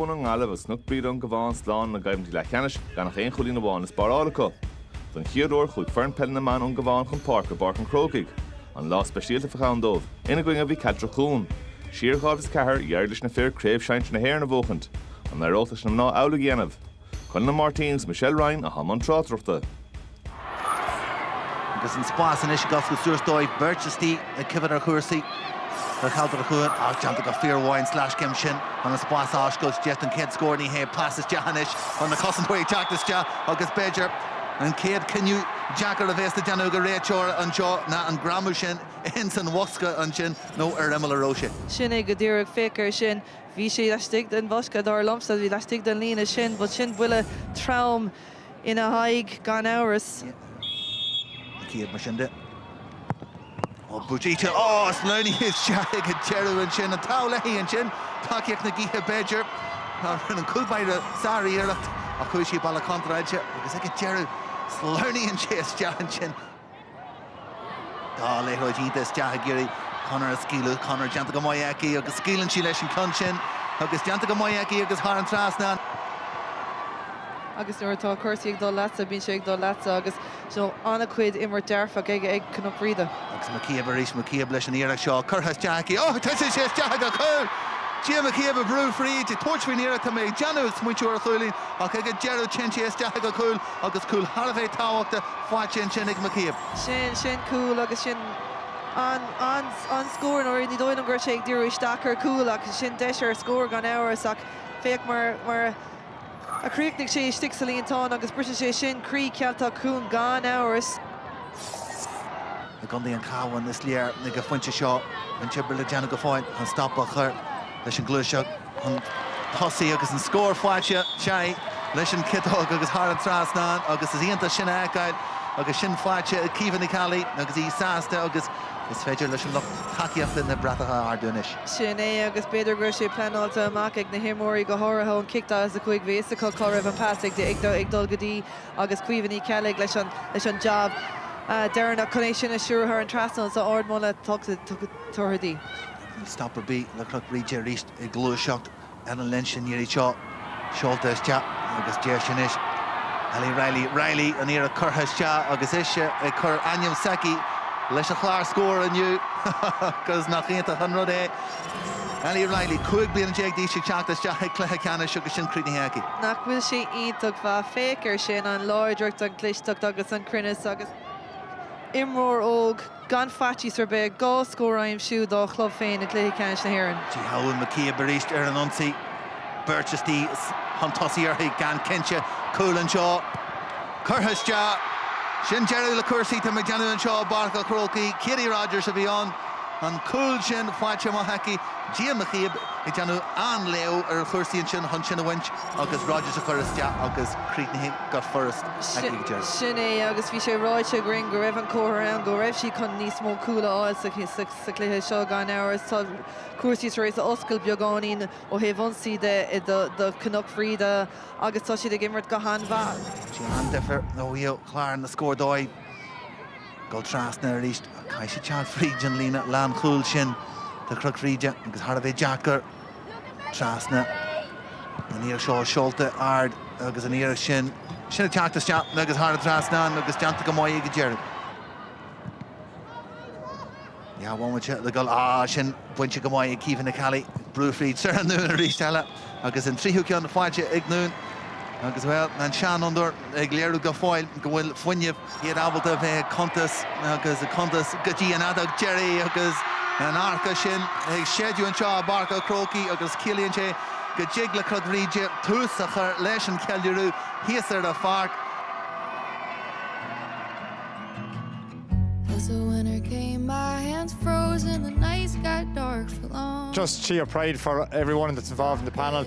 Chuir na Gaillimhigh agus Cnoc Bríde ón gCabhán slán ina gcoimhlintí leathcheannais, gan ach aon chúilín amháin le spáráil acu. Don chéad uair, chuaigh foireann peile na mban ón gCabhán chun páirce i bPáirc an Chrócaigh. An lá speisialta a bheadh ann dóibh. Ina gcoinne, bhí Cealtrach Chuain. Siar i dhá mhíle is a ceathair, d'éirigh leis na fir Craobh Shinsir na hÉireann a bhuachaint. An n-éireodh leis na mná amhlaidh a dhéanamh? Conor Máirtín agus Michelle Ryan i mbun na tráchtaireachta. Agus an spás anois ag oscailt suas dóibh, beirt istigh ag coinneáil ar chúrsaí ar cheantar a chuaigh as déanta go fíormhaith sa scéim sin. Tá an spás ag oscailt isteach don chéad scór, ní hé pas isteach anois, tá na cosantóirí ag teacht isteach agus b'fhéidir an chéad cinneadh deacair a bhéas le déanamh ag an réiteoir anseo ná an greamú sin ins an bhosca ansin nó ar imeall a raibh sé. Sin é go díreach, féach air sin, bhí sé laistigh den bhosca, dar liomsa, bhí laistigh den líne sin, but sin buille trom. ina haghaidh gan amhras. Cic éirice mar sin de. Ó Buchíte, á! Sleamhnaigh isteach ag an deireadh ansin. An t-ádh léi ansin? Tacaíocht na gaoithe b'fhéidir. An cúl báire sáriarracht ach chuaigh sí an bealach contráilte agus ag an deireadh, sleamhnaíonn sé isteach ansin. Tá an liathróid sínte isteach ag iarraidh Connor a scaoileadh. Connor déanta go maith aici agus scaoileann sí leis an ceann sin agus déanta go maith aici agus thar an trasnán. Agus nuair atá cúrsaí ag dul leatsa, bíonn sé ag dul leatsa agus an-chuid imirt dhearfach ag Cnoc Bhríde. Agus McCabe arís. McCabe leis an iarracht seo curtha isteach aici. Ó! Tuiteann sé isteach sa chúl! Gina McCabe ag brú fríd, ag tabhairt faoin iarracht. Tá mé ag déanamh ag smaointiú ar chúilín ach ag an deireadh téann sé isteach sa chúl. Agus cúl thar a bheith tábhachta faighte ansin ag McCabe. Sin, sin cúl agus sin an, an, an scór, mar ní dóigh liom go raibh sé ag díriú isteach ar chúl ach sin deis ar scór gan amhras ach féach mar, mar a chríochnaigh sé istigh sa líontán agus briseann sé sin croí Cealtrach Chuain gan amhras. Foireann chontae an Chabháin is léir ag an phointe seo an-obair le déanamh go fóill chun stop a chur leis an gcluaiseacht. chun tosaigh agus an scór faighte. Téann leis an gciotóg agus thar an trasnán agus is iontach sin a fheiceáil agus sin faighte ag Caoimhe Ní Cheallaigh agus í sásta agus is féidir leis an lucht tacaíochta na bratacha a ardú anois. Sin é agus b'fhéidir go raibh sé pleanáilte amach ag na himreoirí, go háirithe ón cic 45. Bhí a fhios acu cá raibh an pas ag dul go dtí agus Caoimhe Ní Cheallaigh leis an jab deireanach chun é sin a stiúradh thar an trasnán. So ardmholadh tugtha di. Stop ar bith le Cnoc Bhríde arís ag gluaiseacht ar an líne sin. An iarraidh seo. Seolta isteach agus deis anois. Ali Riley, Riley, an iarracht curtha isteach agus ise ag cur an t-ainm s'aici leis an chlár scóir inniu agus nach iontach an rud é. Ali Riley, 15 bliana d'aois ag teacht isteach chuig cluiche ceannais agus sin críochnaithe aici. Nach bhfuil sé iontach mhaith. Féach air sin, an láidreacht, an clisteacht agus an cruinneas agus imreoir óg. Gan faitíos ar bith, dhá scór a aimsiú dá chlub féin i gcluiche ceannais na hÉireann. Tiocfaidh McCabe arís ar an ionsaí. Beirt istigh is chun tosaigh uirthi, gan cinnte. Cúl anseo. Curtha isteach. Sin deireadh le cúrsaí. Tá mé ag déanamh anseo i bPáirc a' Chrócaigh. Katie Rogers a bhí ann. An cúl sin faighte go maith aici. Gia McCabe ag déanamh an-léamh ar chúrsaí ansin chun sin a bhaint. agus Rogers a chur isteach agus críochnaithe go furast ag an deireadh. Sin é agus bhí sé ráite againn go raibh an comhartha ann go raibh siad chun níos mó cúl a fháil sa chluiche seo. Gan amhras tá cúrsaí tar éis a oscailt beagáinín ó thaobh ionsaí de do Chnoc Bhríde agus tá siad ag imirt go han-mhaith. Dhein sé an-difear ó thaobh chlár na scór dóibh dul trasna arís ach caithfidh siad teacht fríd an líne lánchúil sin de Chnoc Bhríde agus thar a bheith deacair. trasna. Níl seo seolta ard agus an iarracht sin sin ag teacht isteach agus thar an trasnán agus déanta go maith ag an deireadh. Neamhbhualte le goal. Ah, sin bainte go maith ag Caoimhe Ní Cheallaigh. Brú fríd Sarah Noone arís eile agus an tríú ceann faighte ag Noone. Agus, bhuel, an seanfhondúir. ag léiriú go fóill go bhfuil fuinneamh. iad ábalta a bheith ag cuntas agus ag cuntas go dtí an fheadóg deiridh agus an adharc sin ag séideadh anseo i bPáirc a' Chrócaigh agus ciallaíonn sé go dtig le Cnoc Bhríde tús a chur leis an cheiliúradh thíos ar an pháirc. Just sheer pride for everyone that's involved in the panel.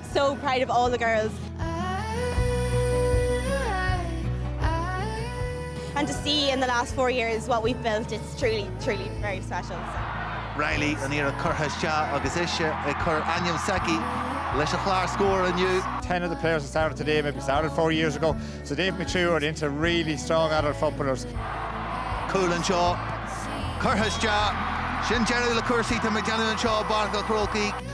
So proud of all the girls. And to see in the last four years what we've built it's truly truly very special so. Reilly an iarracht curtha isteach agus ise ag cur ainm s'aici leis an chlár scór inniu. Ten of the players that started today maybe started four years ago so they've matured into really strong adult footballers. Cúl anseo. Curtha isteach. Sin deireadh le cúrsaí, tá mé ag déanamh anseo i bPáirc an Chrócaigh.